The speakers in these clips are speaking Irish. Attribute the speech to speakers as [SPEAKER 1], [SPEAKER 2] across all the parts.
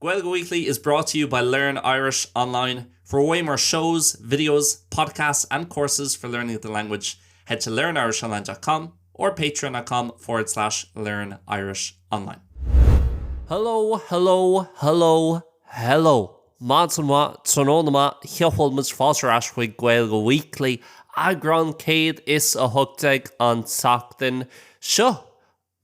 [SPEAKER 1] Gaeilge Weekly is brought to you by Learn Irish Online. For way more shows, videos, podcasts and courses for learning the language, head to learnirishonline dot com or patreon.com forward slash learnirishonline. Hello, hello,
[SPEAKER 2] hello, hello. Maidin mhaith, tráthnóna maith, seo bhfuil muid fáilte ar ais chuig Gaeilge Weekly, eagrán 118 an tseachtain seo.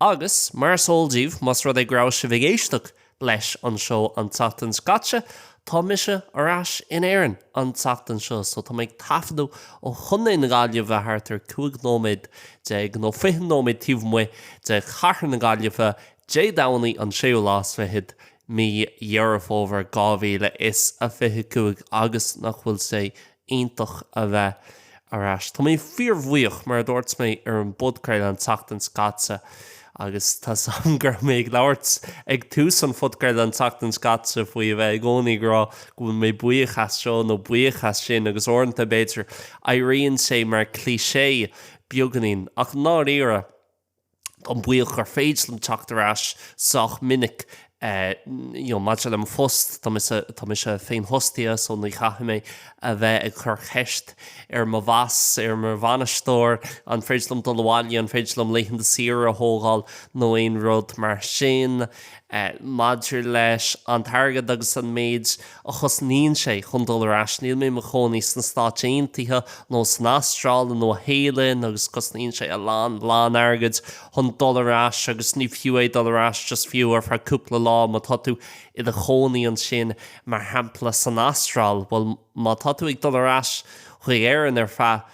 [SPEAKER 2] Agus, mar is eol daoibh, más rud é go raibh sibh ag éisteacht leis an seó an tseachtain seo caite, tá mise ar ais in Éirinn an tseachtain seo so tá mé ag taifeadadh ó Chontae na Gaillimhe thart ar 15 nóiméad nó 20 nóiméad taobh amuigh de chathair na Gaillimhe, Dé Domhnaigh an séú lá is fichead mí Dheireadh Fómhair 2025 agus nach bhfuil sé iontach a bheith ar ais. Tá mé fíorbhuíoch, mar a dúirt mé ar an bpodchraoladh an tseachtain seo caite, agus tá a fhios agam go raibh mé ag labhairt ag tús an phodchraoladh an tseachtain seo caite faoi a bheith i gcónaí ag rá go bhfuil mé buíoch as seo nó buíoch as sin, agus uaireanta, b'fhéidir, éiríonn sé mar cliché beagainín, ach i ndáiríre. Táim buíoch gur féidir liom teacht ar ais sách minic, you know, maidir le mo phost, tá mise, tá mise féinfhostaithe so ní chaithfidh mé a bheith ag cur ceist ar mo bhoss, ar mo bhainisteoir, an féidir liom dul abhaile, an féidir liom laethanta saoire a thógáil nó aon rud mar sin. Maidir leis an t-airgead agus an méid a chosnaíonn sé chun dul ar ais, níl mé i mo chónaí sna Stáit Aontaithe nó san Astráil, i Nua-Shéalainn agus cosnaíonn sé a lán, a lán airgid chun dul ar ais agus ní fiú é dul ar ais just fiú ar feadh cúpla lá má tá tú i do chónaí ansin mar shampla san Astráil, bhuel má tá tú ag dul ar ais chuig Éirinn ar feadh,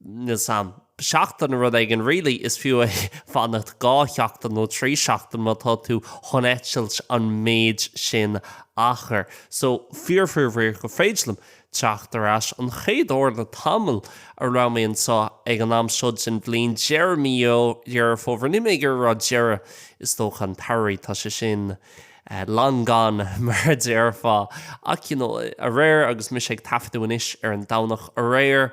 [SPEAKER 2] níl a fhios agam. seachtain, rud éigin, really, is fiú é fanacht dhá sheachtain nó trí seachtaine má tá tú chun eitilt an méid sin achair. So, fíor-fhíorbhuíoch gur féidir liom teacht ar ais. An chéad uair le tamall a raibh mé anseo ag an am seo den bhliain, deireadh mí Dheireadh Fómhair, níl mé ag iarraidh a rá deireadh, is dócha an tsamhraidh, tá sé sin. long gone, mar a déarfá. Ach, you know, aréir agus mise ag taifeadadh anois ar an Domhnach aréir,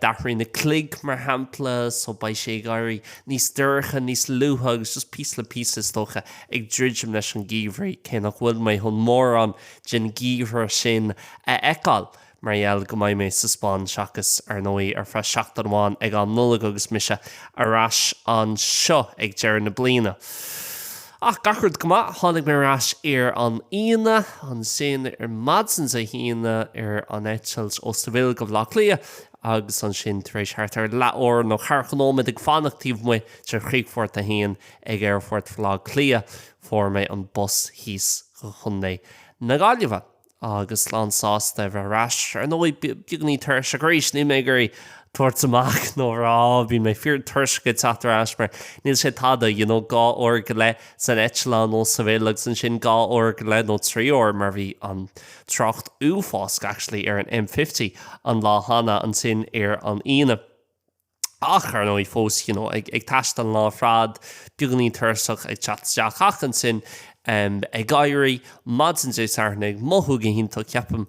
[SPEAKER 2] d'athraigh na cloig, mar shampla, so beidh sé ag éirí níos dorcha, níos luaithe agus just píosa le píosa, is dócha, ag druidim leis an gheimhridh, cé nach bhfuil mé chun mórán den gheimhreadh sin a fheiceáil. mar gheall go mbeidh mé sa Spáinn seachas, ar ndóigh, ar feadh seachtain amháin ag an Nollaig agus mise ar ais anseo ag deireadh na bliana. Ach, gach rud go maith, tháinig mé ar ais ar an Aoine, ansin ar maidin Dé hAoine, ar an eitilt ó Seville go Baile Átha Cliath, agus ansin tar éis thart ar leathuair nó ceathracha nóiméad ag fanacht taobh amuigh de chríochfort a haon ag aerfort Bhaile Átha Cliath, fuair mé an bus thíos go Contae na Gaillimhe. agus lánsásta a bheith ar ais. Ar ndóigh, beagainín tuirseach arís, níl mé ag iarraidh tabhairt amach nó a rá, bíonn mé fíor tuirseach ag teacht ar ais mar níl sé tada, you know, dhá uair go leith san eitleán ó Seville agus ansin dhá uair go leith nó trí uair mar bhí an trácht uafásach actually ar an M50 an lá cheana, ansin ar an Aoine. Ach, ar ndóigh, fós ag taisteal an lá ar fad, beagáinín tuirseach, ag teacht isteach ach ansin ag éirí maidin Dé Sathairn, ag mothú go hiontach, ceapaim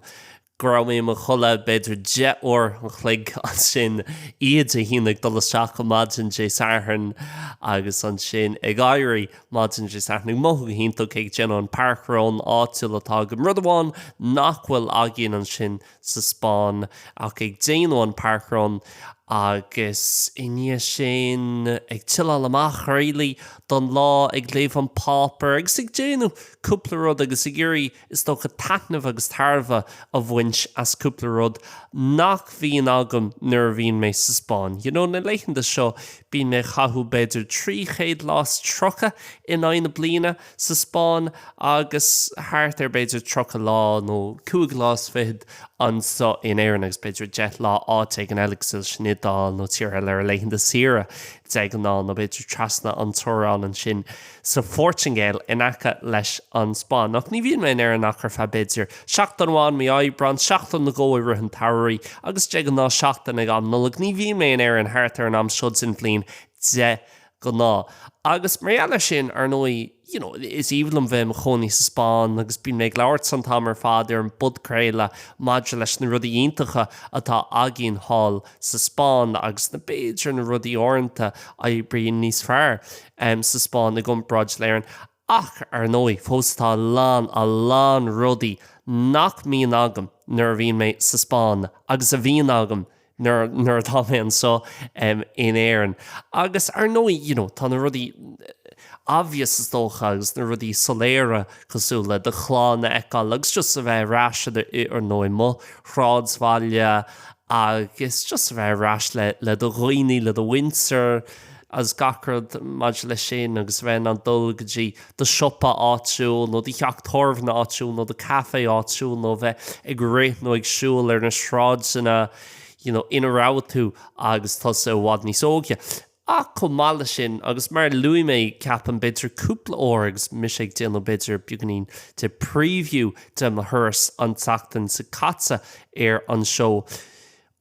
[SPEAKER 2] go raibh mé i mo chodladh b'fhéidir deich uair an chloig ansin, oíche Dé hAoine, ag dul isteach go maidin Dé Sathairn agus ansin ag éirí maidin Dé Sathairn, ag mothú go hiontach, ag déanamh an parkrun áitiúil atá agam, rud amháin nach bhfuil againn ansin, sa Spáinn ach ag déanamh an parkrun agus i ndiaidh sin ag chilleáil amach really don lá, ag léamh an páipéar agus ag déanamh cúpla rud agus ag iarraidh is dócha taitneamh agus tairbhe a bhaint as cúpla rud nach bhíonn agam nuair a bhíonn mé sa Spáinn. You know, na laethanta seo bíonn mé ag caitheamh b'fhéidir 300 lá is 30 in aghaidh na bliana, sa Spáinn agus thart ar b'fhéidir tríocha lá nó cúig lá is fichid anso in Éirinn agus b'fhéidir deich lá áit éigin eile cosúil leis an Iodáil nó tíortha eile ar laethanta saoire de ghnáth nó b'fhéidir trasna an teorainn ansin sa Phortingéil in aice leis an Spáinn. Ach ní bhíonn mé in Éirinn ach ar feadh b'fhéidir seachtain amháin mí Aibreán, seachtain nó dhó i rith an tsamhraidh agus de ghnáth seachtain ag am Nollag. Ní bhíonn mé in Éirinn thart ar an am seo den bhliain de ghnáth. Agus mar gheall air sin, ar ndóigh, you know, is aoibhinn liom bheith i mo chónaí sa Spáinn agus bíonn mé ag labhairt an t-am ar fad ar an bpodchraoladh maidir leis na rudaí iontacha atá againn thall sa Spáinn agus na, b'fhéidir, na rudaí uaireanta a oibríonn níos fearr sa Spáinn i gcomparáid le hÉirinn. Ach, ar ndóigh, fós tá a lán, a lán rudaí nach mbíonn agam nuair a bhíonn mé sa Spáinn agus a bhíonn agam nuair, nuair atá mé anseo in Éirinn. Agus, ar ndóigh, you know, tá na rudaí obvious, is dócha, agus na rudaí soiléire cosúil le do chlann a fheiceáil agus just a bheith ar ais i do, ar ndóigh, mo shráidbhaile agus just a bheith ar ais le, le do dhaoine, le do mhuintir. is gach rud maidir leis sin agus a bheith in ann dul go dtí do siopa áitiúil nó do theach tábhairne áitiúil nó do café áitiúil nó a bheith ag rith nó ag siúl ar na sráideanna you know ina raibh tú agus tusa i bhfad níos óige. Ach chomh maith leis sin, agus mar a luaigh mé ceapaim b'fhéidir cúpla uair agus mise ag déanamh b'fhéidir beagáinín de preview de mo thuras an tseachtain seo caite ar an seó,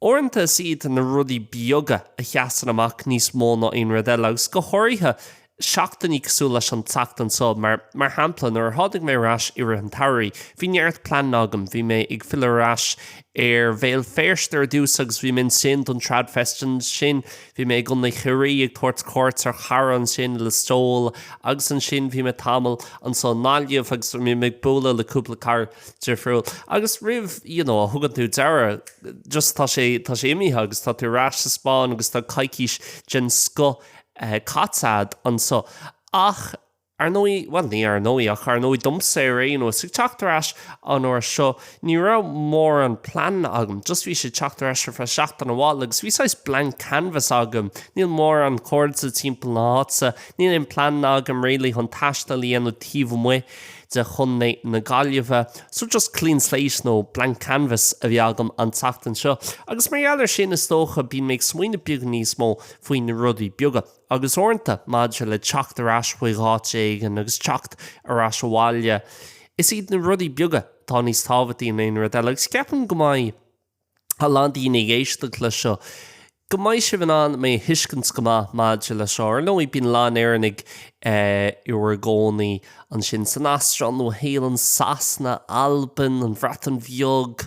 [SPEAKER 2] Uaireanta is iad na rudaí beaga a sheasann amach níos mó ná aon rud eile, agus go háirithe seachtainí cosúil leis an tseachtain seo, mar, mar shampla, nuair a tháinig mé ar ais i rith an tsamhraidh, bhí neart pleananna agam. Bhí mé ag filleadh ar ais ar Bhéal Feirste ar dtús agus bhí mé ansin don TradFest. Ansin bhí mé i gContae Chiarraí ag tabhairt cuairt ar chara ansin, Listowel, agus ansin bhí mé tamall anseo i nGaillimh agus bhí mé ag bualadh le cúpla cara. difriúil agus roimh, you know, a thugann tú dearadh, just tá sé, tá sé imithe agus tá tú ar ais sa Spáinn agus tá coicís den scoth caite a'd anso. Ach, ar ndóigh, bhuel, ní ar ndóigh, ach ar ndóigh domsa ar aon nós, ag teacht ar ais an uair seo, ní raibh mórán plean agam, just bhí sé ag teacht ar ais ar feadh seachtain amháin agus bhí saghas blank canvas agam, níl mórán cairde timpeall na háite, níl aon plean agam really chun taisteal a dhéanamh taobh amuigh. de chontae na Gaillimhe. So just clean slate nó blank canvas a bhí agam an tseachtain seo agus mar gheall ar sin is dócha bíonn mé ag smaoineamh beag níos mó faoi na rudaí beaga agus uaireanta maidir le teacht ar ais chuig áit éigin agus teacht ar ais abhaile is iad na rudaí beaga atá níos tábhachtaí ná aon rud eile agus ceapaim go mbeidh a lán daoine ag éisteacht leis seo, go mbeidh sibh in ann mé a thuiscint go maith maidir leis seo. Ar ndóigh, bíonn a lán Éireannaigh i bhur gcónaí ansin san Astráil, Nua Shéalann, Sasana, Albain, an Bhreatain Bheag,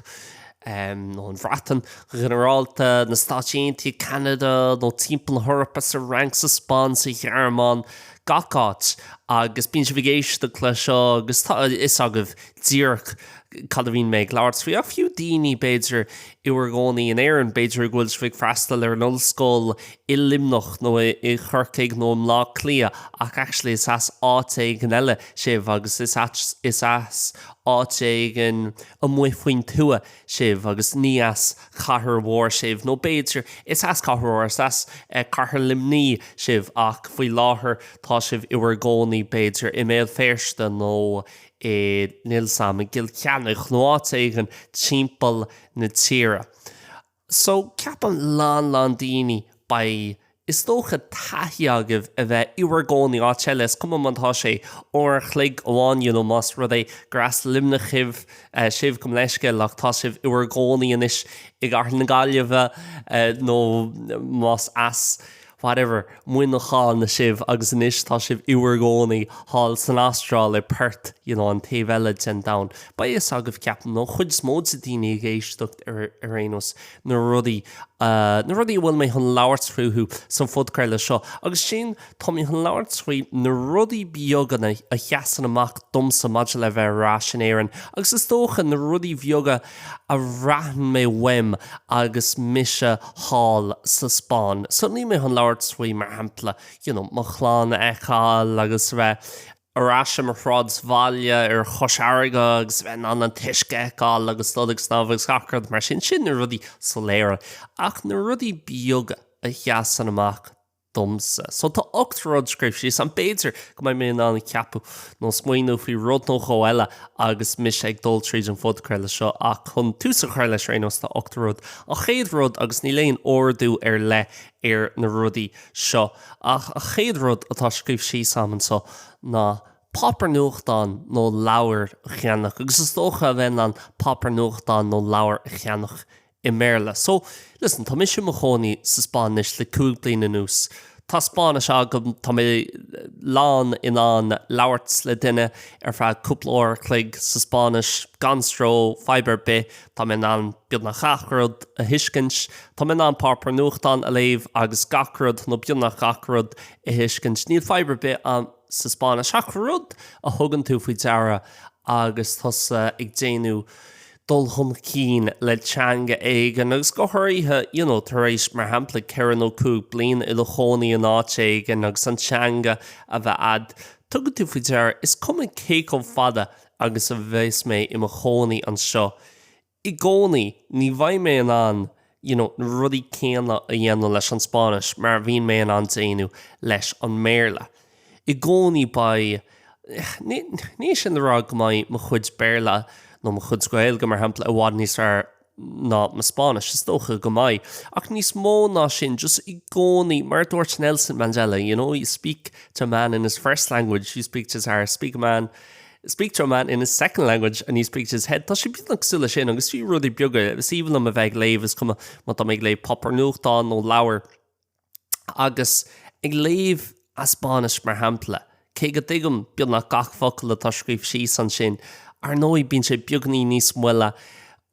[SPEAKER 2] nó an Bhreatain go ginearálta, na Stáit Aontaithe, Ceanada, nó timpeall na hEorpa, sa Fhrainc, sa Spáinn, sa Ghearmáin, gach áit, agus bíonn sibh ag éisteacht leis seo agus tá a fhios agaibh díreach cad a bhíonn mé ag labhairt faoi, ach fiú daoine, b'fhéidir, i bhur gcónaí in Éirinn, b'fhéidir go bhfuil sibh ag freastal ar an ollscoil i Luimneach nó i Corcaigh nó i mBlá Cliath ach actually is as áit éigin eile sibh agus is as áit éigin amuigh faoin tuath sibh agus ní as cathair mhór sibh nó b'fhéidir is as cathair mhór, is as cathair Luimnigh sibh ach faoi láthair tá sibh i bhur gcónaí b'fhéidir i mBéal Féirste nó níl a fhios agam, i gCill Chainnigh nó áit éigin timpeall na tíre. So, ceapaim a lán lán daoine, beidh, is dócha, taithí agaibh a bheith i bhur gcónaí áit eile, is cuma má tá sé uair a chloig amháin, you know, más rud é gur as Luimneach sibh, sibh gabh mo leithscéal ach tá sibh i bhur gcónaí anois i gcathair na Gaillimhe nó más as. whatever, Muineachán sibh agus anois tá sibh i bhur gcónaí thall san Astráil i Perth, you know, an taobh eile den domhan. Beidh a fhios agaibh, ceapaim, nó an chuid is mó de na daoine ag éisteacht ar, ar aon nós, na rudaí, eh, na rudaí a bhfuil mé chun labhairt fúthu sa phodchraoladh seo. Agus sin, tá mé chun labhairt faoi na rudaí beaga a sheasann amach domsa maidir le bheith ar ais in Éirinn agus is dócha na rudaí bheaga, a bhraith mé uaim agus mise thall sa Spáinn. So níl mé chun labhairt faoi, mar shampla, you know, mo chlann a fheiceáil agus a bheith ar ais i mo shráidbhaile ar Chois Fharraige agus a bheith in ann an t-uisce a fheiceáil agus dul ag snámh agus gach rud mar sin. Sin na rudaí soiléire. Ach na rudaí beaga a sheasann amach domsa. So tá ocht rud scríofa síos agam. B'fhéidir go mbeidh mé in ann ceapadh nó smaoineamh faoi rud nó dhó eile agus mise ag dul tríd an phodchraoladh seo ach chun tús a chur leis ar aon nós tá ocht rud. An chéad rud, agus níl aon ordú ar leith ar na rudaí seo, ach an chéad rud atá scríofa síos agam anseo ná páipéar nuachtáin nó leabhar a cheannach agus is dócha a bheith in ann páipéar nuachtáin nó leabhar a cheannach i mBéarla. So, listen, tá mise i mo chónaí sa Spáinn anois le cúig bliana anuas. Tá Spáinnis agam, tá mé lán in ann labhairt le duine ar feadh cúpla uair a chloig sa Spáinnis gan stró, fadhb ar bith. Tá mé in ann beagnach gach rud a thuiscint. Tá mé in ann páipéar nuachtáin a léamh agus gach rud, nó beagnach gach rud, a thuiscint. Níl fadhb ar bith ann sa Spáinnis ach rud a thugann tú faoi deara agus tusa ag déanamh. dul chun cinn le teanga éigin agus go háirithe you know tar éis mar shampla ceithre nó cúig bliana i do chónaí in áit éigin agus an teanga a bheith a'd, tugann tú faoi deara, is cuma cé chomh fada agus a bheas mé i mo chónaí anseo, i gcónaí ní bheidh mé in ann you know, na rudaí céanna a dhéanamh leis an Spáinnis mar a bhíonn mé in ann déanamh leis an mBéarla. I gcónaí beidh, ní hé sin le rá go mbeidh mo chuid Béarla nó mo chuid Gaeilge, mar shampla, i bhfad níos fearr ná mo Spáinnis, is dócha go mbeidh, ach níos mó ná sin, just i gcónaí, mar a dúirt Nelson Mandela, you know, you speak to a man in his first language, you speak to his heart, speak a man, Speak to a man in his second language and you speak to his head. Tá sé beagnach cosúil le sin agus fiú rudaí beaga is aoibhinn liom a bheith ag léamh is cuma má tá mé ag léamh páipéar nuachtáin nó leabhar agus ag léamh as Spáinnis mar shampla, cé go dtuigim beagnach gach focal atá scríofa síos ansin, ar ndóigh bíonn sé beagáinín níos moille.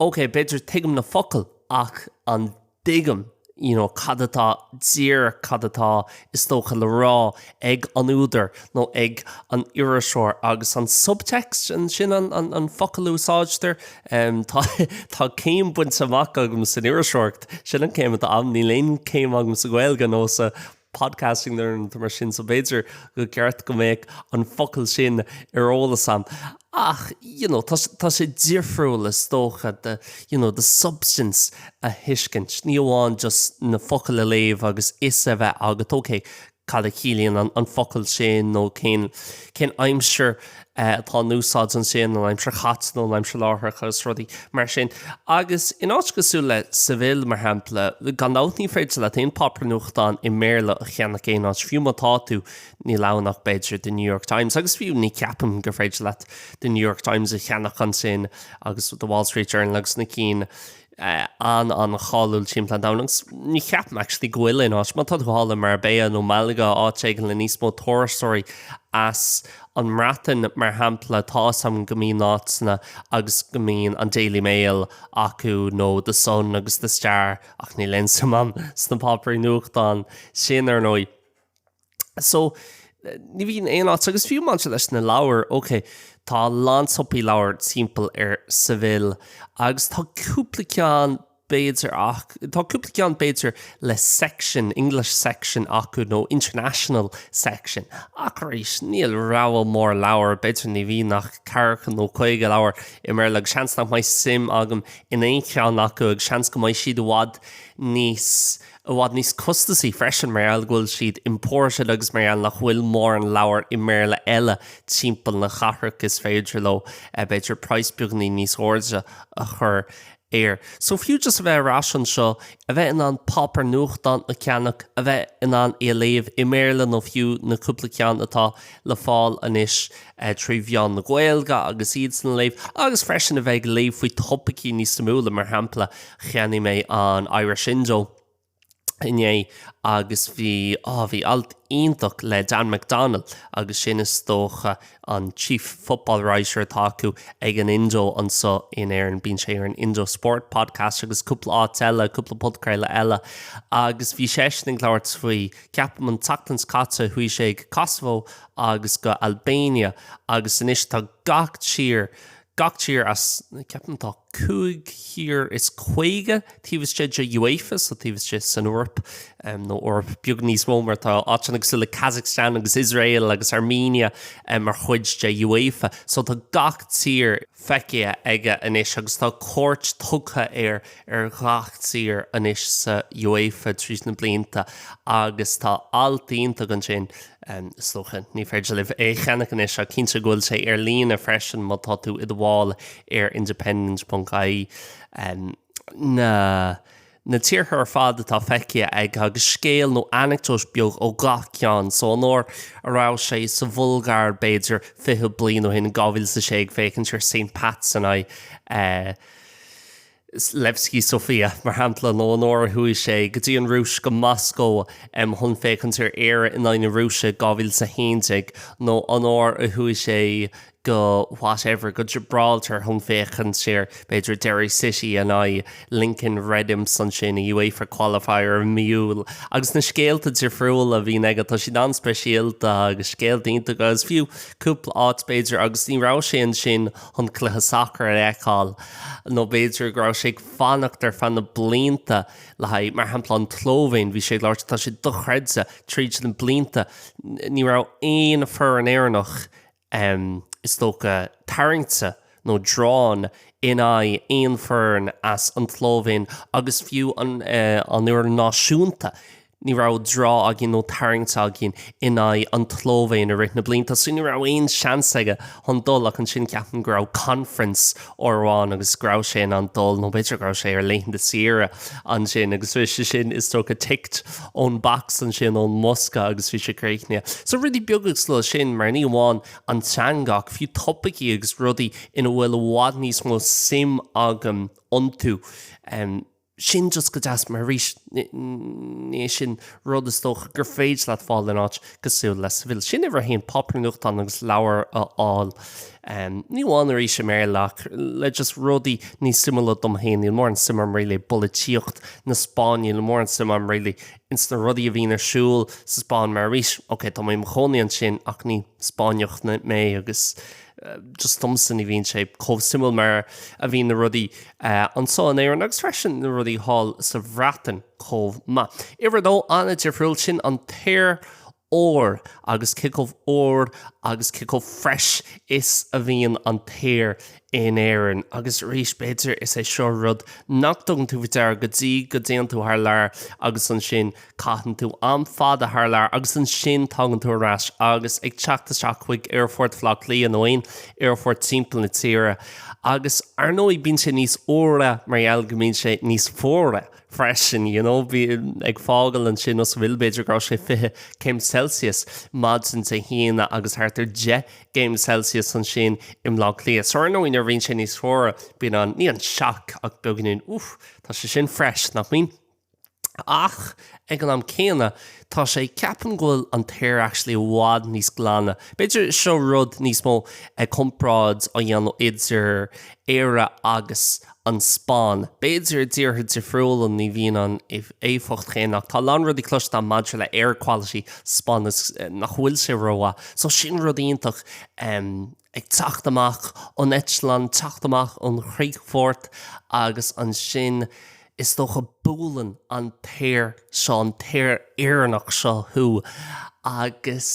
[SPEAKER 2] Ócé, b'fhéidir tuigim na focail ach an. dtuigim, you know, cad atá, dír, cad atá, is dócha, le rá ag an údar nó ag an iriseoir agus an subtext, sin an focal a úsáidtear. Tá, tá céim bainte amach agam san iriseoireacht, sin an céim atá agam, níl aon chéim agam sa Ghaeilge nó sa. podcasting nó rud mar sin so b'fhéidir go gceart go mbeadh an focal sin ar eolas a'm. Ach you know, tá sé difriúil is dócha you know, the substance a thuiscint, ní amháin just na focail a léamh agus fhios a bheith agat, ok, cad a chiallaíonn an focal sin nó cén aimsir atá in úsáid ansin, an aimsir chaite nó an aimsir láithreach agus rudaí mar sin. Agus in áit cosúil le Seville, mar shampla, gan dabht ní féidir leat aon páipéar nuachtáin i mBéarla a cheannach aon áit, fiú má tá tú, níl ann ach b'fhéidir The New York Times, agus fiú ní cheapaim gur féidir leat The New York Times a cheannach ansin agus The Wall Street Journal agus na cinn sin. an-an-cháiliúil timpeall an domhain agus ní ceapaim actually go bhfuil aon áit, má tá tú thall i Marbella nó Malaga, áit éigin le níos mó turasóirí as an mBreatain mar shampla, tá 'fhios a'm go mbíonn áiteanna agus go mbíonn an Daily Mail acu nó The Sun agus The Star ach níl aon suim a'm sna páipéirí nuachtáin sin ar ndóigh. So, ní bhíonn aon áit, agus fiú maidir leis na leabhair, ok, tá a lán siopaí leabhar timpeall ar Seville, agus tá cúpla ceann b'fhéidir ach, tá cúpla ceann b'fhéidir le section, English section acu nó international section, ach arís, níl rogha mór leabhar, b'fhéidir ní bhíonn ach ceathracha nó caoga leabhar i mBéarla agus seans nach mbeidh suim agam in aon cheann acu agus seans go mbeidh siad i bhfad níos i bhfad níos costasaí freisin mar gheall go bhfuil siad imported agus mar gheall nach bhfuil mórán leabhar i mBéarla eile timpeall na cathrach is féidir leo b'fhéidir price beagainín níos airde a chur air. So fiú just a bheith ar ais anseo, a bheith in ann páipéar nuachtáin a cheannach, a bheith in ann é a léamh i mBéarla nó fiú na cúpla ceann atá le fáil anois, trí mheán na Gaeilge agus iadsan a léamh agus freisin a bheith ag léamh faoi topaicí níos suimiúla. Mar shampla, cheannaigh mé an Irish Indo inné agus bhí, á, bhí alt iontach le Dan McDonnell agus sin is dócha an chief football writer atá acu ag an Indo anseo in Éirinn, bíonn sé ar an Indo Sport Podcast agus cúpla áit eile, cúpla podchraoladh eile agus bhí seisean ag labhairt faoi, ceapaim an tseachtain seo caite chuaigh sé go Kosovo agus go Albania agus anois tá gach tír, gach tír as, ceapaim tá cúig thír is caoga taobh istigh de UEFA, so taobh istigh san Eoraip, nó Eoraip beagán níos mó mar tá áiteanna cosúil le Kazakhstan agus Iosrael agus Armenia mar chuid de UEFA. So tá gach tír feicthe aige anois agus tá cuairt tugtha. ar ghach tír anois san UEFA tríd na blianta agus tá alt iontach ansin, is dócha, ní féidir libh é a cheannach anois ach cinnte go bhfuil sé ar líne freisin má tá tú i do bhall ar independent.ie, na na tíortha ar fad atá feicthe aige agus scéal nó anecdote beag ó ghach ceann. So an uair a raibh sé sa Bhulgáir b'fhéidir fiche bliain ó shin, in 2006, ag féachaint ar Saint Pat's in aghaidh, Levski Sofia, mar shampla, nó an uair a chuaigh sé go dtí an Rúis, go Moscó, chun féachaint ar Éire in aghaidh na Rúise, 2011, nó an uair a chuaigh sé go whatever, go Gibraltar chun féachaint ar, b'fhéidir, Derry City in aghaidh Lincoln Red Imps ansin i UEFA Qualifier i mí Iúil. Agus na scéalta difriúla a bhíonn aige, tá siad an-speisialta agus scéalta iontacha agus fiú cúpla áit, b'fhéidir, agus ní raibh sé ansin chun cluiche sacair a fheiceáil, nó b'fhéidir go raibh sé ag fanacht ar feadh na blianta le haghaidh, mar shampla, an tSlóivéin, bhí sé ag labhairt, tá sé dochreidte, tríd na blianta, ní raibh aon foireann Éireannach, is dócha, tarraingte nó drawn in aghaidh aon foireann as an tSlóivéin agus fiú an fhoireann náisiúnta, Ní raibh draw againn nó tarraingt againn in aghaidh an tSlóivéin i rith na blianta so ní raibh aon seans aige chun dul ach ansin ceapaim go raibh conference uair amháin agus go raibh sé in ann dul nó b'fhéidir go raibh sé ar laethanta saoire ansin agus bhí sé sin is dócha ticked ón box ansin ón mbosca agus bhí sé críochnaithe. So rudaí beaga cosúil leis sin mar ní amháin an teanga ach fiú topaicí agus rudaí ina bhfuil i bhfad níos mó suim agam iontu. sin just go deas, mar arís, ní é sin rud is dócha gur féidir leat fáil in áit cosúil le Seville. Sin uimhir a haon, páipéir nuachtáin agus leabhair a fháil, ní amháin arís i mBéarla ach le just rudaí níos suimiúla dom féin. Níl mórán suim agam really i bpolaitíocht na Spáinne, níl mórán suim agam really ins na rudaí a bhíonn ar siúl sa Spáinn, mar arís, ok, tá mé i mo chónaí ansin ach ní Spáinneach mé agus, Just domsa ní bhíonn sé chomh suimiúil mar a bhíonn na rudaí anso in Éirinn agus freisin na rudaí thall sa Bhreatain chomh maith. Uimhir a dó, an-difriúil, sin an t-aer úr agus cé chomh úr agus cé chomh fresh is a bhíonn an t-aer in Éirinn. Agus arís, b'fhéidir, is é seo rud nach dtugann tú faoi deara go dtí go dtéann tú thar lear agus ansin Caitheann tú am fada thar lear agus ansin tagann tú ar ais agus ag teacht isteach chuig Aerfort Bhaile Átha Cliath nó aon aerfort timpeall na tíre. Agus, ar ndóigh, bíonn sé níos úire mar gheall go mbíonn sé níos fuaire freisin, you know. Bím ag fágáil ansin as Seville, b'fhéidir go raibh sé 20 céim Celsius maidin Dé hAoine agus thart ar 10 gcéim Celsius ansin i mBleá Cliath. So, ar ndóigh, nuair a bhíonn sé níos fuaire, bíonn an, ní an sioc ach beagáinín, úf, tá sé sin fresh, nach mbíonn? Ach ag an am céanna, tá sé, ceapaim, go bhfuil an t-aer actually i bhfad níos glaine. B'fhéidir seo rud níos mó ag comparáid á dhéanamh idir Éire agus an Spáinn. B'fhéidir i dtíortha difriúla ní bhíonn an éifeacht chéanna ach tá a lán rudaí cloiste maidir le air quality sa Spáinn is nach bhfuil sé rómhaith. So sin rud iontach ag teacht amach ón eitleán, teacht amach ón chríochfort agus ansin, Is dócha buaileann an t-aer seo, an t-aer Éireannach seo thú agus,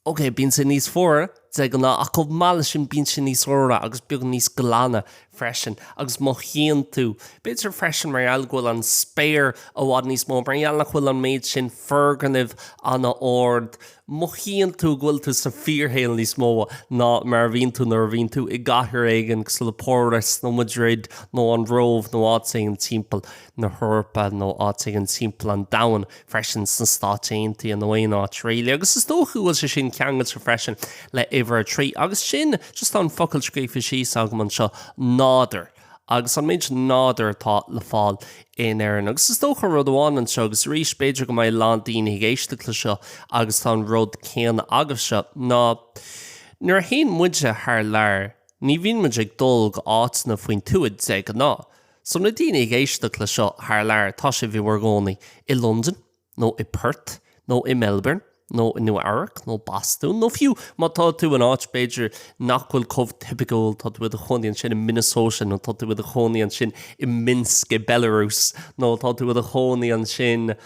[SPEAKER 2] ok, bíonn sé níos fuaire de ghnáth ach chomh maith leis sin bíonn sé níos úire agus beagán níos glaine freisin agus mothaíonn tú, b'fhéidir freisin mar gheall go bhfuil an spéir i bhfad níos mó, mar gheall nach bhfuil an méid sin foirgnimh an-ard, mothaíonn tú go bhfuil tú sa fíorshaol níos mó ná mar a bhíonn tú nuair a bhíonn tú i gcathair éigin cosúil le Páras nó Madrid nó an Róimh nó áit éigin timpeall na hEorpa nó áit éigin timpeall an domhain freisin, sna Stáit Aontaithe nó aon áit really. Agus is dócha go bhfuil sé sin ceangailte freisin le huimhir a trí. Agus sin just an focal scríofa síos agam anseo, nádúr. agus an méid nádúr atá le fáil in Éirinn. Agus is dócha rud amháin anseo agus arís, b'fhéidir go mbeidh a lán daoine ag éisteacht le seo agus tá an rud céanna agaibhse, ná nuair a théann muide thar lear, ní bhíonn muid ag dul go háiteanna faoin tuath de ghnáth. So na daoine ag éisteacht le seo thar lear, tá sibh i bhur gcónaí i Londain, nó i Perth, nó i Melbourne, nó i Nua Eabhrac, nó Bostún, nó fiú má tá tú in áit, b'fhéidir, nach bhfuil chomh tipiciúil, tá tú i do chónaí ansin i Minnesota, nó tá tú i do chónaí ansin i Minsk i Belarus, nó tá tú i do chónaí ansin,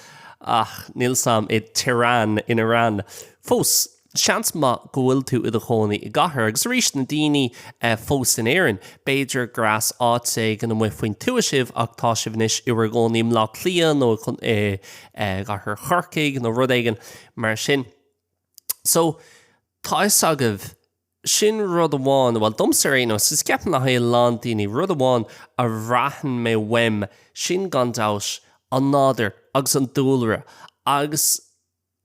[SPEAKER 2] ach níl a fhios agam, i Tehran in Iran. Fós, Seans maith go bhfuil tú i do chónaí i gcathair, agus arís, na daoine fós in Éirinn. B'fhéidir gur as áit éigin amuigh faoin tuath sibh, ach tá sibh anois i bhur gcónaí i mBleá Cliath nó i gcathair Chorcaigh nó rud éigin mar sin. So, tá a fhios agaibh, sin rud amháin, bhuel, domsa ar aon nós, agus ceapaim le haghaidh a lán daoine, rud amháin a bhraitheann mé uaim, sin gan dabht an nádúr agus an dúlra agus.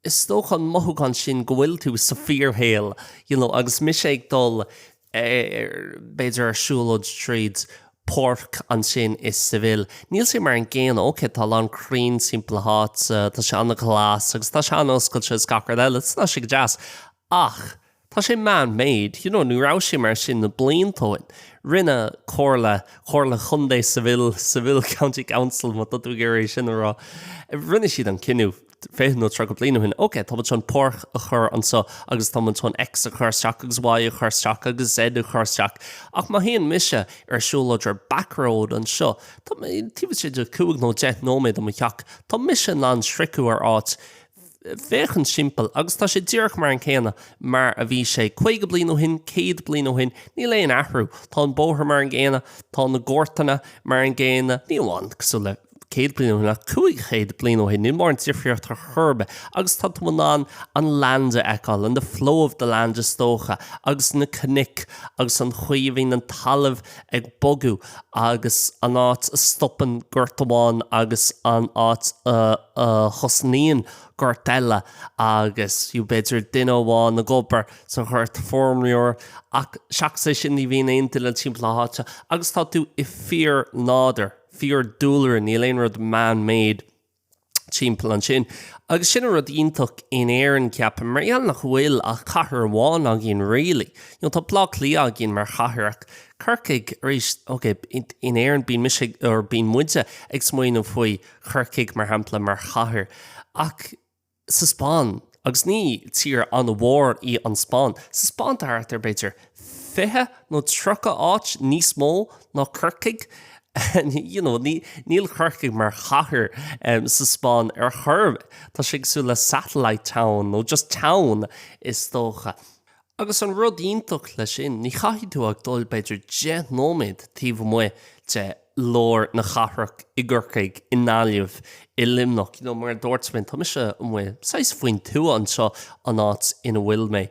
[SPEAKER 2] Is dócha an mothúchán sin go bhfuil tú sa fíorshaol you know agus mise ag dul ar, b'fhéidir ar siúlóid tríd páirc ansin i Seville, níl sé mar an gcéanna, ok tá a lán crainn timpeall na háite, tá sé an-ghlas agus tá sé an-oscailte is gach rud eile, is tá sé go deas ach. Tá sé man made, you know, ní raibh sé mar sin na blianta ó shin. Rinne comhairle, comhairle chontae Seville, Seville County Council, má tá tú ag iarraidh é sin a rá, rinne siad an cinneadh fiche nó tríocha bliain ó shin, okay, tá muid chun páirc a chur anseo agus tá muid chun X a chur isteach agus Y a chur isteach agus Z a chur isteach. Ach má théann mise ar siúlóid ar back road anseo, taobh istigh de chúig nó deich nóiméad de mo theach, tá mise in ann sroicheadh ar áit, féachaint timpeall agus tá sé díreach mar an céanna mar a bhí sé caoga bliain ó shin, céad bliain ó shin, níl aon athrú. Tá an bóthar mar an gcéanna, tá na goirteanna mar an gcéanna, ní amháin cosúil le céad bliain ó shin ach cúig chéad bliain ó shin, níl mórán difríocht ar chor ar bith agus tá tú in ann an land a fheiceáil and the flow of the land is dócha agus na cnoic agus an chaoi a bhíonn an talamh ag bogadh. agus an áit a stopann gort amháin agus an áit a thosnaíonn gort eile agus you know b'fhéidir duine amháin ag obair sa ghort feirmeoir ach seachas é sin ní bhíonn aon duine timpeall na háite agus tá tú i fíor-nádúr, fíor-dúlra, níl aon rud man-made. timpeall ansin. Agus sin an rud iontach in Éirinn, ceapaim, mar gheall nach bhfuil ach cathair amháin againn really. You know, tá Bleá Cliath againn mar chathair ach Corcaigh, arís, okay, in Éirinn bíonn mise, or bíonn muide ag smaoineamh faoi Chorcaigh mar shampla mar chathair ach, sa Spáinn, agus ní tír an-mhór í an Spáinn, sa Spáinn thart ar, b'fhéidir, fiche nó tríocha áit níos mó ná Corcaigh, you know níl Corcaigh mar chathair sa Spáinn ar chor ar bith, tá sé cosúil le satellite town nó just town is dócha. Agus an rud iontach leis sin, ní chaithfidh tú ach dul b'fhéidir deich nóiméad taobh amuigh de lár na cathrach, i gCorcaigh, i nGaillimh, i Luimneach, you know, mar a dúirt mé, tá mise amuigh saghas faoin tuath anseo, an áit ina bhfuil mé,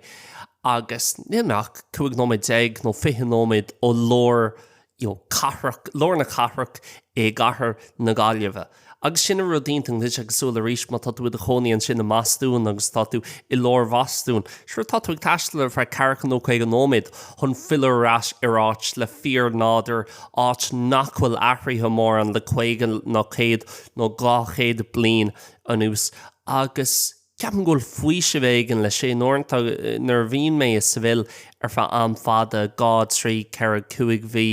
[SPEAKER 2] agus níl mé ach cúig nóiméad déag nó fiche nóiméad ó lár, you know, cathrach, lár na cathrach i gcathair na Gaillimhe. Agus sin an rud iontach, agus cosúil arís, má tá tú i do chónaí ansin i mBostún agus tá tú i lár Bhostún, sure, tá tú ag taisteal ar feadh ceathracha nó caoga nóiméad chun filleadh ar ais ar áit le fíornádúr, áit nach bhfuil athruithe mórán le caoga nó céad nó dhá chéad bliain anuas. Agus Ceapaim go bhfuil faoiseamh éigin leis sin uaireanta nuair a bhíonn mé i Seville ar feadh am fada, dhá, trí, ceithre, cúig mhí,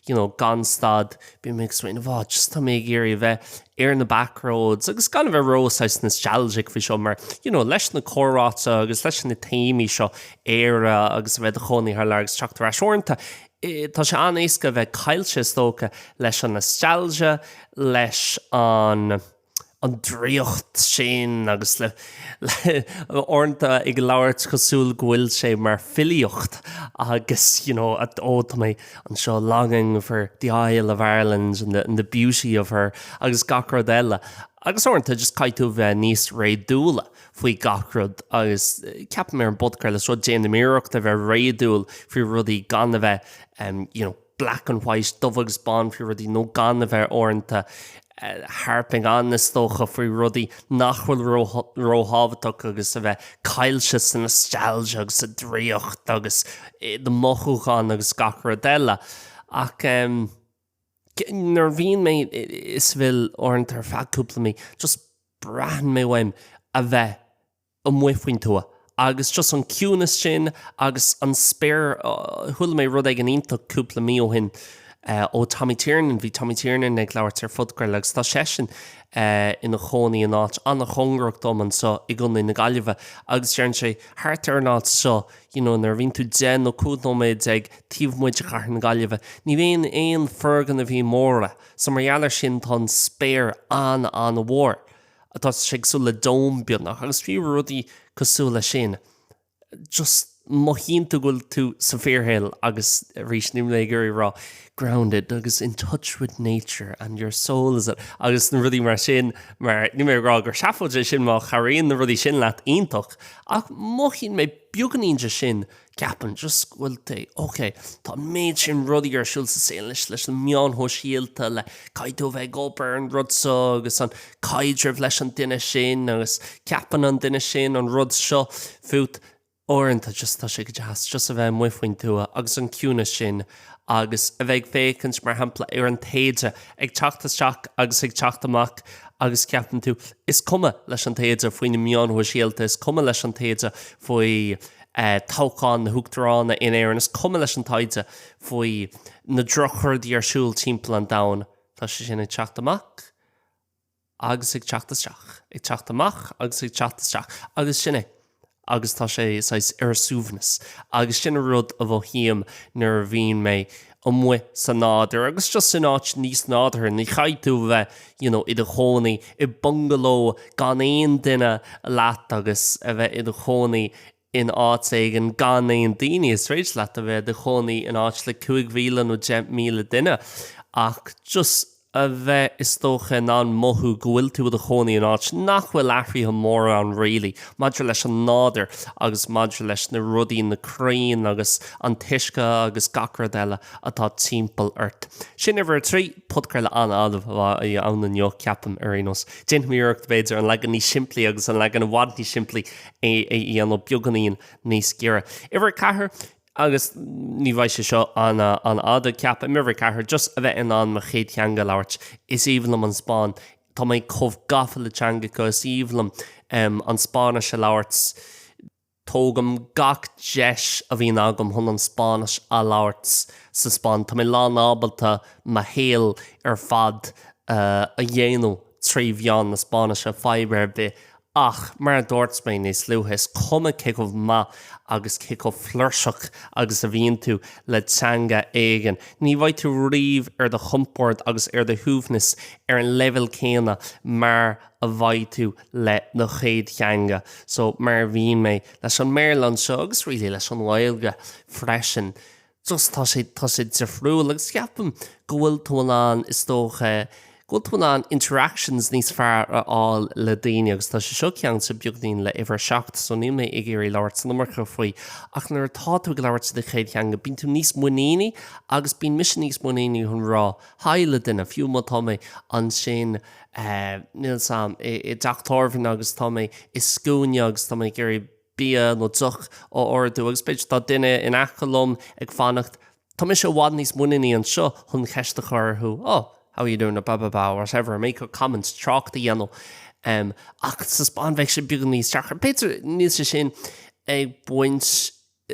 [SPEAKER 2] you know, gan stad, bíonn mé ag smaoineamh, oh, just tá mé ag iarraidh a bheith ar na back roads agus gan a bheith ró, saghas, nostalgic faoi seo mar, you know, leis na comhráite agus leis na téamaí seo, Éire agus a bheith i do chónaí thar lear agus teacht ar ais. Uaireanta, eh, tá sé an-éasca a bheith caillte, is dócha, leis an nostalgia, leis an. an draíocht sin agus le uaireanta ag labhairt cosúil go bhfuil sé mar filíocht agus you know ó tá mé anseo longing for the isle of Ireland and the and the beauty of her agus gach rud eile agus uaireanta just caithfidh tú a bheith níos réadúla faoi gach rud agus ceapaim ar an bpodchraoladh seo déanaim iarracht a bheith réadúil faoi rudaí gan a bheith you know black and white, dubh agus bán faoi rudaí, nó gan a bheith uaireanta, harping on is dócha, faoi rudaí nach bhfuil róthábhachtach agus a bheith caillte sa nostalgia agus sa draíocht agus i do mhothúcháin agus gach rud eile. Ach nuair a bhíonn mé i Seville uaireanta ar feadh cúpla mí, just braitheann mé uaim a bheith amuigh faoin tuath agus just an ciúnas sin agus an spéir. Chuala mé rud éigin iontach cúpla mí ó shin ó Tommy Tiernan, bhí Tommy Tiernan ag labhairt ar phodchraoladh agus tá seisean ina chónaí in áit an-chóngarach dom anseo i gContae na Gaillimhe agus deireann sé thart ar an áit seo you know nuair a bhíonn tú deich nó cúig nóiméad déag taobh amuigh de chathair na Gaillimhe ní bhíonn aon foirgnimhí móra so mar gheall ar sin tá an spéir an-an-mhór. tá sé cosúil le dome beagnach agus faoi rudaí cosúil leis sin just mothaíonn tú go bhfuil tú sa fíorshaol agus arís níl mé ag iarraidh a rá grounded agus in touch with nature and your soul is a agus na rudaí mar sin mar níl mé ag rá gur seafóid é sin má chabhraíonn na rudaí sin leat iontach ach mothaíonn mé beagánín de sin Ceapaim just go bhfuil. Ok, tá an méid sin rudaí ar siúl sa saol anois leis na meáin shóisialta, le caithfidh tú a bheith ag obair ar an rud seo agus an caidreamh leis an duine sin agus ceapann an duine sin an rud seo fút. Uaireanta just tá sé go deas just a bheith amuigh faoin tuath agus an ciúnas sin agus a bheith ag féachaint mar shampla ar an taoide ag teacht isteach agus ag teacht amach agus ceapann tú is cuma leis an taoide faoi na meáin shóisialta, is cuma leis an taoide faoi toghchán na huachtaránachta in Éirinn. Is cuma leis an taoide faoi na drochrudaí ar siúl timpeall an domhain, tá seisean ag teacht amach agus ag teacht isteach, ag teacht amach agus ag teacht isteach, agus sin é, agus tá sé saghas ar a suaimhneas, agus sin an rud a mhothaím nuair a bhíonn mé amuigh sa nádur agus just in áit níos nádurtha. Ní chaithfidh tú a bheith you know i do chónaí i bungaló gan aon duine leat agus a bheith i do chónaí in áit éigin gan aon daoine. Is féidir leat a bheith i do chónaí in áit le cúig mhíle nó deich míle duine ach just. a bheith, is dócha, in ann mothú go bhfuil tú i do chónaí in áit nach bhfuil athruithe móra ann really, maidir leis an nádur agus maidir leis na rudaí, na crainn agus an t-uisce agus gach rud eile atá timpeall ort. Sin uimhir a trí. Podchraoladh an-fhada a bheidh ann inniu, ceapaim, ar aon nós. Déanfaimid iarracht, b'fhéidir, an leagan níos simplí agus an leagan i bhfad níos simplí a dhéanamh beagáinín níos giorra. Uimhir a ceathair. Agus ní bheidh sé seo an-fhada, ceapaim. Uimhir a ceathair, just a bheith in ann mo chéad theanga a labhairt. Is aoibhinn liom an Spáinn. Tá mé chomh gafa le teangacha, is aoibhinn liom an Spáinnis a labhairt. Tógaim gach deis a bhíonn agam chun an Spáinnis a labhairt sa Spáinn. Tá mé lánábalta mo shaol ar fad a dhéanamh trí mheán na Spáinnise, fadhb ar bith Ach, mar a dúirt mé níos luaithe, is cuma cé chomh maith agus cé chomh fluirseach agus a bhíonn tú le teanga éigin, ní bheidh tú riamh ar do chompord agus ar do shuaimhneas ar an leibhéal céanna mar a bheidh tú le do chéad theanga. So, mar a bhíonn mé leis an mBéarla anseo, agus really leis an nGaeilge freisin, just tá sé, tá sé difriúil agus ceapaim go bhfuil tú in ann, is dócha, go bhfuil tú in ann interactions níos fearr a fháil le daoine agus tá sé seo ceangailte beagainín le uimhir a seacht so níl mé ag iarraidh labhairt san iomarca faoi ach nuair atá tú ag labhairt sa chéad theanga bíonn tú níos muiníní agus bíonn mise níos muiníní chun rá hi le duine fiú má tá mé ansin eh, níl a fhios agam, i, i dteach tábhairne agus tá mé i scuaine agus tá mé ag iarraidh bia nó deoch a ordú agus b'fhéidir tá duine in aice liom ag fanacht, tá mise i bhfad níos muiníní anseo chun ceist a chur orthu oh, how are you doing, blah, blah, blah, whatever, make a comment, trácht a dhéanamh. em, ach sa Spáinn bheadh sé beagán níos deacra. B'fhéidir níl sé sin ag baint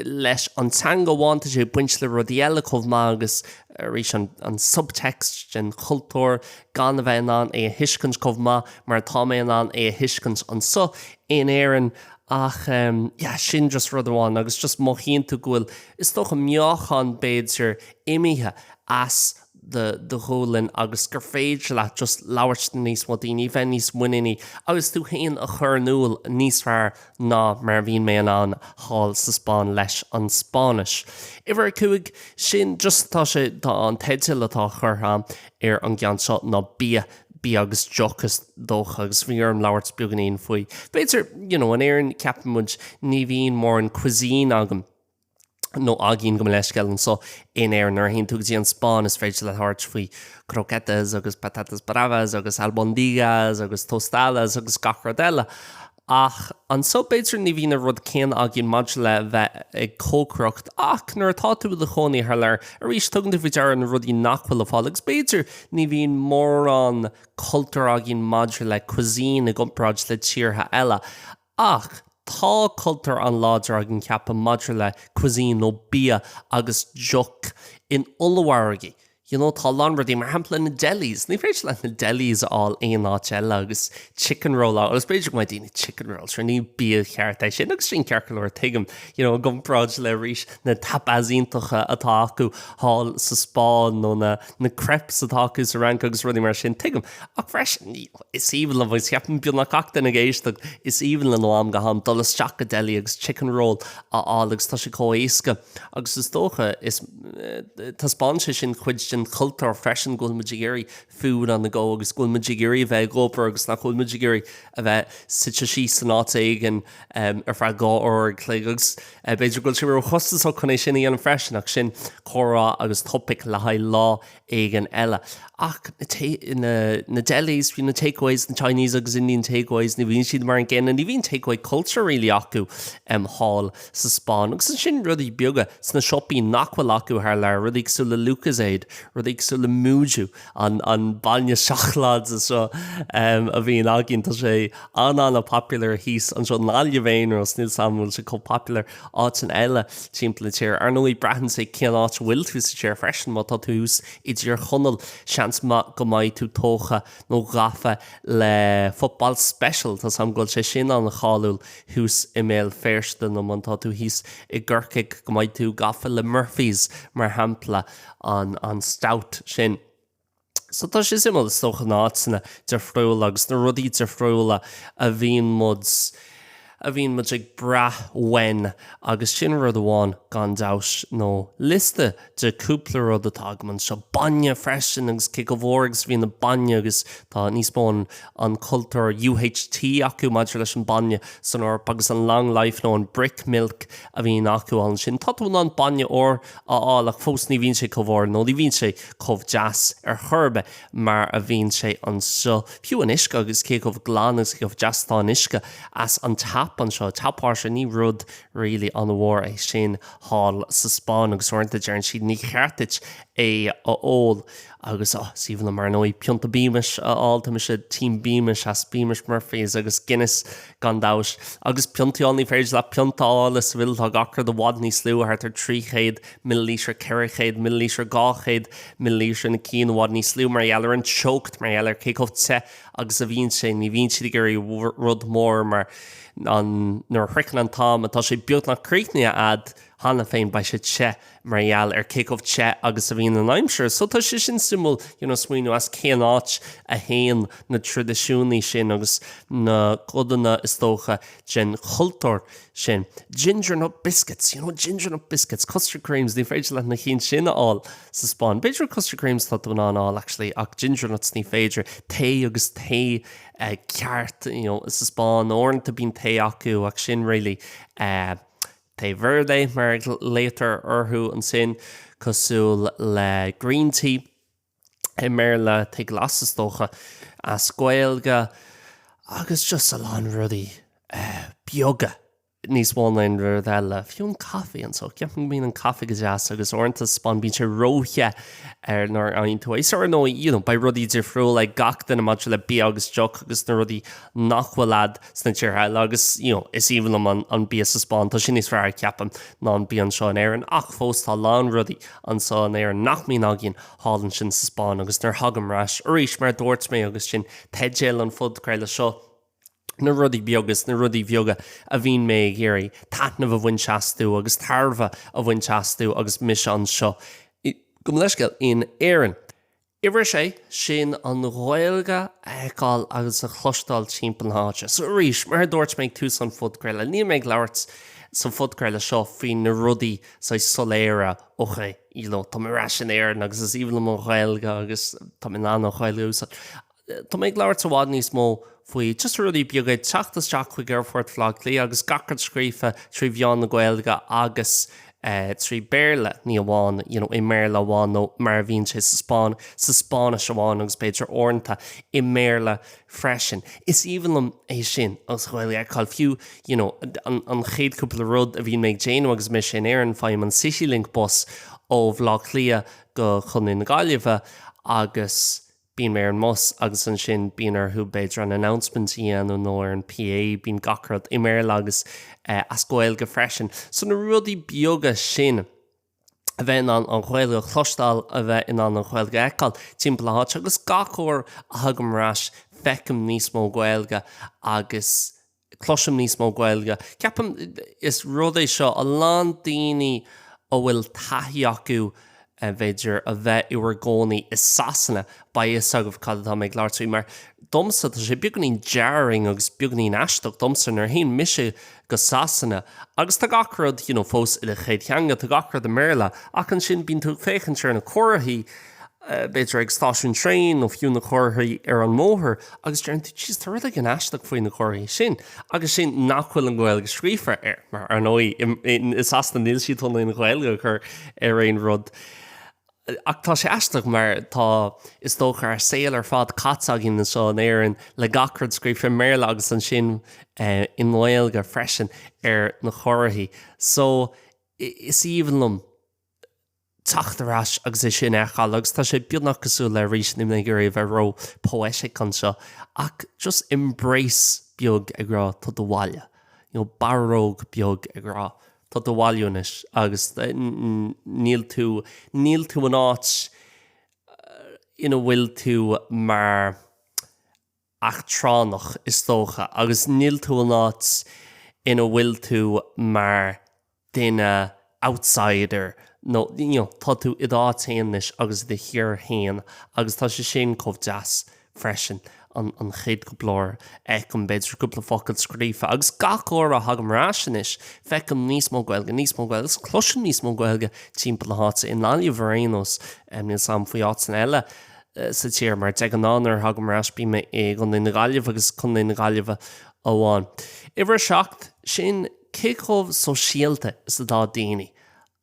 [SPEAKER 2] leis an teanga amháin, tá sé ag baint le rudaí eile chomh maith agus arís an subtext den chultúr, gan a bheith in ann é a thuiscint chomh maith mar atá mé in ann é a thuiscint anseo in Éirinn. Ach yeah, sin just rud amháin agus just mothaíonn tú go bhfuil, is dócha, meáchan b'fhéidir imithe as do do ghualainn agus gur féidir leat just labhairt le níos mó daoine, bheith níos muiníní agus tú féin a chur in iúl níos fearr ná mar a bhíonn mé in ann thall sa Spáinn leis an Spáinnis. Uimhir a cúig, sin just tá sé, tá an teideal atá curtha ar an gceann seo ná Bia, Bia agus Deoch is dócha, agus bhí orm labhairt beagainín faoi. B'fhéidir, you know, in Éirinn ceapann muid ní bhíonn mórán cuisine agam, nó againn gabh mo leithscéal anso in Éirinn. Nuair a théann tú go dtí an Spáinn is féidir leat labhairt faoi croquetas agus patatas bravas agus albondigas agus tostadas agus gach rud eile. Ach anso b'fhéidir ní bhíonn an rud céanna againn maidir le bheith ag cócaireacht ach nuair atá tú i do chónaí thar lear, arís tugann tú faoi deara na rudaí nach bhfuil le fáil agus b'fhéidir ní bhíonn mórán cultúir againn maidir le cuisine i gcomparáid le tíortha eile. Ach tá cultúr an-láidir againn, ceapaim, maidir le cuisine nó bia agus deoch in ollmhargaí. You know, tá a lán rudaí, mar shampla na delis, ní féidir leat na delis a fháil aon áit eile agus chicken roll agus b'fhéidir go mbeidh daoine chicken roll, sure, ní bia cheart é sin agus sin ceart go leor, tuigim, you know, i gcomparáid le, arís, na tapas iontacha atá acu thall sa Spáinn nó na. na crêpes atá acu sa Fhrainc agus rudaí mar sin, tuigim. Ach freisin, is aoibhinn liom, agus cheapaim beagnach gach duine ag éisteacht, is aoibhinn linn ó am go ham dul isteach go deli agus chicken roll a fháil agus tá sé chomh éasca agus is dócha, taispeánann sé sin cuid den chultúr freisin go bhfuil muid ag iarraidh food on the go agus go bhfuil muid ag iarraidh a bheith ag obair agus nach bhfuil muid ag iarraidh a bheith suite síos in áit éigin ar feadh dhá uair an chloig agus b'fhéidir go bhfuil sé ró chostasach chun é sin a dhéanamh freisin ach sin comhrá agus topaic le haghaidh lá éigin eile. Ach na delis, fiú na takeaways, na Chinese agus Indian takeaways, ní bhíonn siad mar an gcéanna, ní bhíonn takeaway culture really acu thall sa Spáinn agus ansin rudaí beaga sna siopaí nach bhfuil acu thar lear, rudaí cosúil le Lucozade, rudaí cosúil le Mooju. an bainne seacláide seo a bhíonn againn, tá sé an-an-popular thíos anseo i nGaillimh ar aon nós, níl 's 'am an bhfuil sé chomh popular áiteanna eile timpeall na tíre. Ar ndóigh, braitheann sé cén áit a bhfuil tú sa tír freisin, má tá tú thuas i dTír Chonaill, seans maith go mbeidh tú tógtha nó gafa le Football Special, tá 's 'am go bhfuil sé sin an-cháiliúil thuas i mBéal Féirste, nó má tá tú thíos i gCorcaigh go mbeidh tú gafa le Murphy's, mar shampla. an Stout sin. So tá sé suimiúil, is dócha, na áiteanna difriúla agus na rudaí difriúla a bhíonn muid, a bhíonn muid ag brath uainn agus sin rud amháin gan dabht ar bith nó liosta de cúpla rud atá agam anseo. Bainne freisin agus cé chomh mhór agus a bhíonn an bainne agus tá níos mó an, an cultúr UHT acu maidir leis an bainne san Eoraip agus an long life nó an brick milk a bhíonn acu ann sin. Tá tú in ann bainne úr a fháil ach fós ní bhíonn sé chomh húr nó ní bhíonn sé chomh deas ar chor ar bith mar a bhíonn sé anseo. Fiú an uisce agus cé chomh glan agus cé chomh deas atá an uisce as an tap anseo, tap uisce, ní rud really an-mhór é sin thall sa Spáinn agus uaireanta deireann siad ní cheart duit é a ól. agus ó sea bhuel mar ndóigh, pionta Beamish a fháil, tá mise Team Beamish as Beamish, Murphys agus Guinness gan dabht. Agus piontaí ann, ní féidir leat pionta a fháil i Seville, tá gach rud i bhfad níos lú, thart ar 300 millilítear, 400 millilítear, 200 millilítear, na cinn i bhfad níos lú mar gheall ar an teocht, mar gheall ar cé chomh te agus a bhíonn sé, ní bhíonn siad ag iarraidh rud mór mar, nuair a shroicheann an t-am atá sé beagnach críochnaithe a'd, Cheana féin beidh sé te mar gheall ar cé chomh te agus a bhíonn an aimsir, so tá sé sin suimiúil, smaoineamh as cén áit a thagann na traidisiúnaí sin agus na codanna, is dócha, den chultúr sin. Ginger nut biscuits, ginger nut biscuits, custard creams, ní féidir leat na cinn sin a fháil sa Spáinn. B'fhéidir custard creams tá tú in ann a fháil, actually, ach ginger nuts ní féidir. Tae agus tae ceart, sa Spáinn, uaireanta bíonn tae acu ach sin really, eh, Té verde, mar a ghlaotar orthu ansin, cosúil le Green Tea i mBéarla, tae glas is dócha as Gaeilge, agus just a lán rudaí beaga níos mó na aon rud eile. Fiú an caife anseo, ceapaim go mbíonn an caife go deas agus uaireanta sa Spáinn, bíonn sé ró-the nuair a fhaigheann tú é. So ar ndóigh, you know, beidh rudaí difriúla ag gach duine maidir le bia agus deoch agus na rudaí nach bhfuil le fáil sna tíortha eile agus, you know, is aoibhinn liom an bia sa Spáinn, tá sé níos fearr, ceapaim, ná an bia anseo in Éirinn ach fós tá a lán rudaí anseo in Éirinn nach mbíonn againn thall ansin sa Spáinn agus nuair a thagaim ar ais, arís, mar a dúirt mé agus sin teideal an phodchraoladh seo, na rudaí beaga, is na rudaí bheaga a bhíonn mé ag iarraidh taitneamh a bhaint astu agus tairbhe a bhaint astu agus mise anseo, gabh mo leithscéal, in Éirinn. Uimhir 6, sin an Ghaeilge a fheiceáil agus a chloisteáil timpeall na háite. So arís, mar a dúirt mé ag tús an phodchraoladh, níl mé ag labhairt sa phodchraoladh seo faoi na rudaí saghas soiléire, ok, you know, tá mé ar ais in Éirinn agus is aoibhinn liom an Ghaeilge agus tá mé in ann an Ghaeilge a úsáid. Tá mé ag labhairt i bhfad níos mó faoi just rudaí beaga, teacht isteach chuig aerfort Bhaile Átha Cliath agus gach rud scríofa trí mheán na Gaeilge agus, eh, trí Bhéarla, ní amháin, you know, i mBéarla amháin nó mar a bhíonn sé sa Spáinnis amháin agus b'fhéidir uaireanta i mBéarla freisin. Is aoibhinn liom é sin agus Gaeilge a fheiceáil fiú, you know, an chéad cúpla rud a bhíonn mé ag déanamh agus mise in Éirinn, faighim an Citylink bus ó Bhaile Átha Cliath go Contae na Gaillimhe agus, bíonn mé ar an mbus agus ansin bíonn orthu b'fhéidir an announcement a dhéanamh nó ar an PA, bíonn gach rud i mBéarla agus as Gaeilge freisin. So na rudaí beaga sin, a bheith in ann an Ghaeilge a chloisteáil, a bheith in ann an Ghaeilge a fheiceáil timpeall na háite agus gach uair a thagaim ar ais feicim níos mó Gaeilge agus cloisim níos mó Gaeilge. Ceapaim is rud é seo a lán daoine a bhfuil taithí acu b'fhéidir a bheith in bhur gcónaí i Sasana, beidh a fhios agaibh cad atá mé ag labhairt faoi mar domsa tá sé beagainín jarring agus beagainín aisteach domsa nuair a théann mise go Sasana agus tá gach rud you know fós i do chéad theanga, tá gach rud i mBéarla ach ansin bíonn tú ag féachaint ar na comharthaí b'fhéidir ag stáisiún traein nó fiú na comharthaí ar an mbóthar, agus deireann tú, Jeez, tá rud éigin aisteach faoi na comharthaí sin, agus sin nach bhfuil an Ghaeilge scríofa air, mar ar ndóigh, i Sasana níl siad chun aon Ghaeilge a chur ar aon rud. Ach tá sé aisteach mar tá, is dócha, ár saol ar fad caite againn anseo in Éirinn le gach rud scríofa i mBéarla agus ansin i nGaeilge freisin ar na comharthaí. So, is aoibhinn liom. teacht ar ais agus é sin a fheiceáil agus tá sé beagnach cosúil le arís níl mé ag iarraidh a bheith ró poetic anseo ach just embrace beag ag rá tá tú abhaile, you know, barróg beag ag rá tá tú abhaile anois agus níl tú, níl tú in áit ina bhfuil tú mar. eachtrannach, is dócha, agus níl tú in áit ina bhfuil tú mar duine outsider nó, you know, tá tú i d'áit fhéin anois agus i do thír fhéin agus tá sé sin chomh deas freisin. An chéad cúpla uair a fheicim, b'fhéidir, cúpla focal scríofa agus gach uair a thagaim ar ais anois, feicim níos mó Gaeilge, níos mó Gaeilge agus cloisim níos mó Gaeilge timpeall na háite, i nGaillimh ar aon nós, níl 's 'am faoi áiteanna eile. sa tír, mar de ghnáth nuair a thagaim ar ais bím i gContae na Gaillimhe agus Contae na Gaillimhe amháin. Uimhir 7, sin cé chomh sóisialta is atá daoine.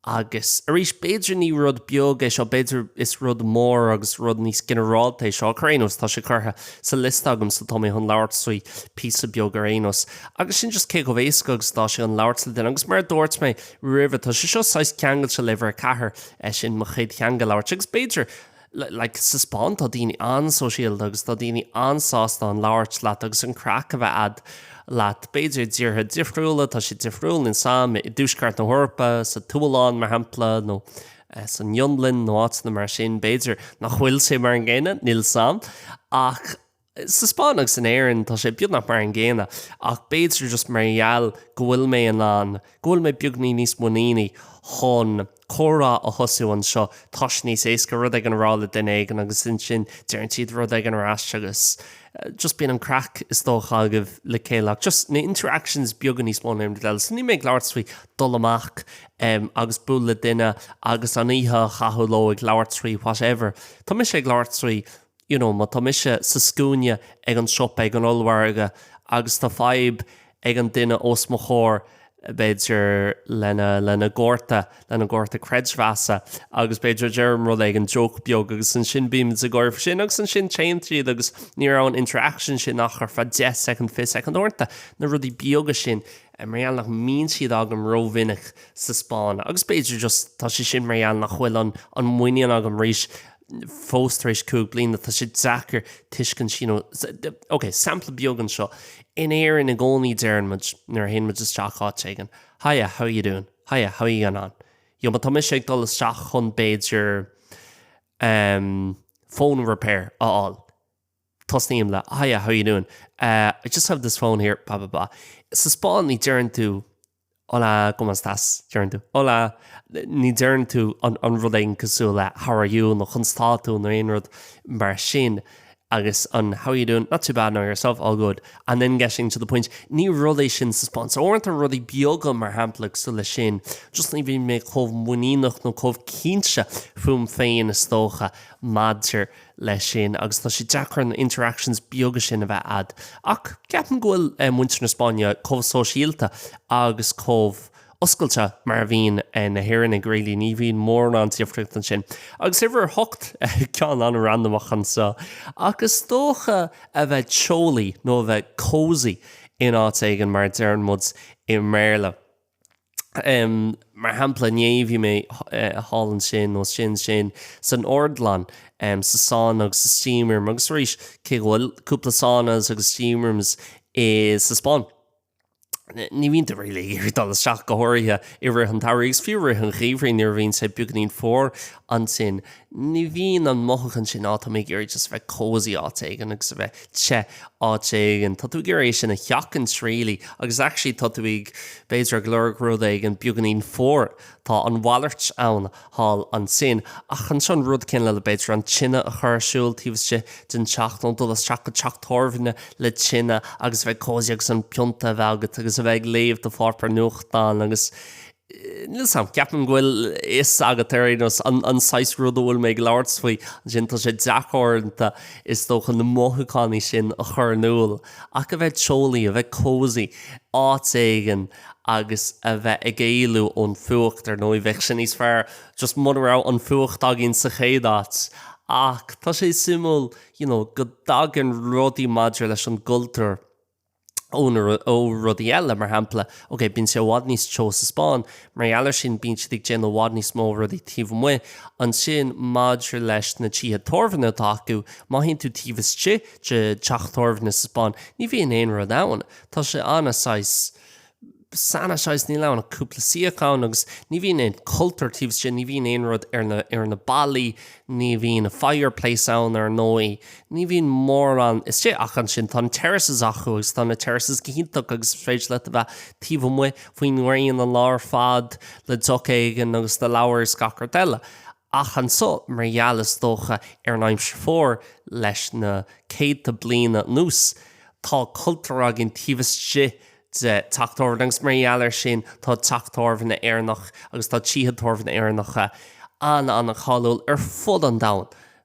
[SPEAKER 2] Agus arís, b'fhéidir ní rud beag é seo, b'fhéidir is rud mór agus rud níos ginearálta é seo, ach ar aon nós tá sé curtha sa liosta agam so tá mé chun labhairt faoi píosa beag ar aon nós. Agus sin just cé chomh éasca agus atá sé chun labhairt le duine. Agus mar a dúirt mé roimhe, tá sé seo saghas ceangailte le uimhir 4, sin mo chéad theanga a labhairt. Agus b'fhéidir, like sa Spáinn tá daoine an-sóisialta agus tá daoine an-sásta chun labhairt leat agus an craic a bheith agat leat. B'fhéidir i dtíortha difriúla tá sé difriúil, níl 's 'am, i dtuaisceart na hEorpa, sa tSualainn mar shampla nó san Fhionlainn nó áiteanna mar sin b'fhéidir nach bhfuil sé mar an gcéanna, níl 's 'am ach, Sa Spáinn agus in Éirinn tá sé beagnach mar an gcéanna, ach b'fhéidir just mar gheall go bhfuil mé in ann, go bhfuil mé beagáinín níos muiníní chun comhrá a thosú anseo, tá sé níos éasca rud éigin a rá le duine éigin agus ansin deireann siad rud éigin ar ais agus just bíonn an craic is dócha agaibh le chéile ach just na interactions beaga níos mó ná aon rud eile. So níl mé ag labhairt faoi dul amach em agus buail le duine agus an oíche a chaitheamh leo ag labhairt faoi whatever. Tá mise ag labhairt faoi you know má tá mise sa scuaine ag an siopa, ag an ollmhargadh agus tá fadhb ag an duine os mo chomhair, b'fhéidir lena, lena gcárta, lena gcárta creidmheasa agus b'fhéidir deirim rud éigin, joke beag agus ansin bíonn muid ag gáire faoi sin agus ansin téann siad agus ní raibh an interaction sin ach ar feadh deich soicind, fiche soicind uaireanta, na rudaí beaga sin mar gheall nach mbíonn siad agam rómhinic sa Spáinn agus b'fhéidir just tá sé sin mar gheall nach bhfuil an, an muinín agam arís. fós tar éis cúig bliana, tá sé deacair tuiscint you know, ok, sampla beag anseo, in Éirinn i gcónaí deireann muid nuair a théann muid isteach áit éigin, hiya, how are you doing? hiya, how are you getting on? you know, má tá mise ag dul isteach chun b'fhéidir ehm phone repair a fháil, tosnaím le hiya, how are you doing? eh, I just have this phone here, blah blah blah. Sa Spáinn ní deireann tú Hola, ¿cómo estás? deireann tú. Hola! Ní deireann tú an rud éigin cosúil le How are you? nó Conas tá tú? nó aon rud mar sin. Agus an How are you doing? Not too bad, no, yourself? All good. And then getting to the point. Ní rud é sin sa Spáinn. So uaireanta rudaí beaga mar shampla cosúil le sin, just ní bhíonn mé chomh muiníneach nó chomh cinnte fúm féin is dócha maidir leis sin agus tá sé deacair an interactions beaga sin a bheith a'd ach ceapaim go bhfuil muintir na Spáinne chomh sóisialta agus chomh oscailte mar a bhíonn na hÉireannaigh really, ní bhíonn mórán difríocht ansin. Agus uimhir a hocht, ceann an-randamach anseo ach is dócha a bheith teolaí nó a bheith cosy in áit éigin mar a deireann muid i mBéarla. Mar shampla, inné bhí mé sa linn snámha sin san óstlann, sa sauna agus sa steam room agus arís, cé go bhfuil cúpla saunas agus steam rooms i, sa Spáinn, ní bhíonn tú really ag iarraidh dul isteach go háirithe i rith an tsamhraidh agus fiú i rith an gheimhridh nuair a bhíonn sé beagáinín fuar, ansin. Ní bhíonn an mothúchán sin, á, tá mé ag iarraidh just a bheith cosy áit éigin agus a bheith te áit éigin, tá tú ag iarraidh é sin a sheachaint really agus actually tá tú ag, b'fhéidir, ag lorg rud éigin beagáinín fuar, tá an mhalairt ann thall ansin. Ach anseo an rud céanna le, b'fhéidir, an tine a chur ar siúl taobh istigh den teach nó dul isteach go teach tábhairne le tine agus a bheith cosy agus an pionta a bheith agat agus a bheith ag léamh do pháipéar nuachtáin agus Níl 's agam. Ceapaim go bhfuil fhios agat ar aon nós an saghas rud a bhfuil mé ag labhairt faoi. Ansin tá sé deacair uaireanta is dócha na mothúcháin sin a chur in iúl ach a bheith teolaí, a bheith cosy áit éigin agus a bheith ag éalú ón fuacht. Ar ndóigh bheadh sé níos fearr just mura raibh an fuacht againn sa chéad áit. Ach tá sé suimiúil, you know, go dtagann rudaí maidir leis an gcultúr, ó rudaí eile. Mar shampla, okay, bíonn sé i bhfad níos teo sa Spáinn, mar gheall air sin, bíonn siad ag déanamh i bhfad níos mó rudaí taobh amuigh. Ansin, maidir leis na tithe tábhairne atá acu, má théann tú taobh istigh de theach tábhairne sa Spáinn, ní bhíonn aon rud ann. Tá sé an-, saghas, an-, saghas, níl ann ach cúpla suíochán agus ní bhíonn aon chultúr taobh istigh, ní bhíonn aon rud ar na, ar na ballaí, ní bhíonn fireplace ann ar ndóigh, ní bhíonn mórán istigh ach ansin tá na terraces acu agus tá na terraces go hiontach agus is féidir leat a bheith taobh amuigh faoin ngréin an lá ar fad le deoch éigin agus do leabhar is gach rud eile. ach anso, mar gheall, is dócha, ar an aimsir fuar, leis na céadta bliain anuas, tá cultúr againn taobh istigh de teach tábhairne, agus mar gheall air sin, tá teach tábhairne Éireannach, agus tá tithe tábhairne Éireannacha an-an-cháiliúil ar fud an domhain.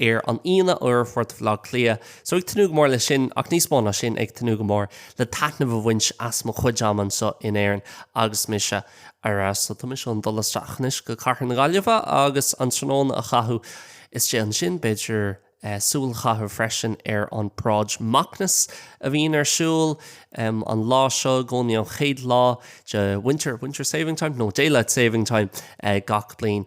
[SPEAKER 2] ar an Aoine i bport Bhaile Átha Cliath so ag tnúth go mór leis sin ach níos mó ná sin ag tnúth go mór le taitneamh a bhaint as mo chuid ama anseo in Éirinn agus mise ar ais so tá mise chun dul isteach anois go cathair na Gaillimhe agus an tráthnóna a chaitheamh istigh ansin b'fhéidir súil a chaitheamh freisin ar an bparáid Macnas a bhíonn ar siúl an lá seo i gcónaí an chéad lá de winter, winter saving time? no daylight saving time gach bliain.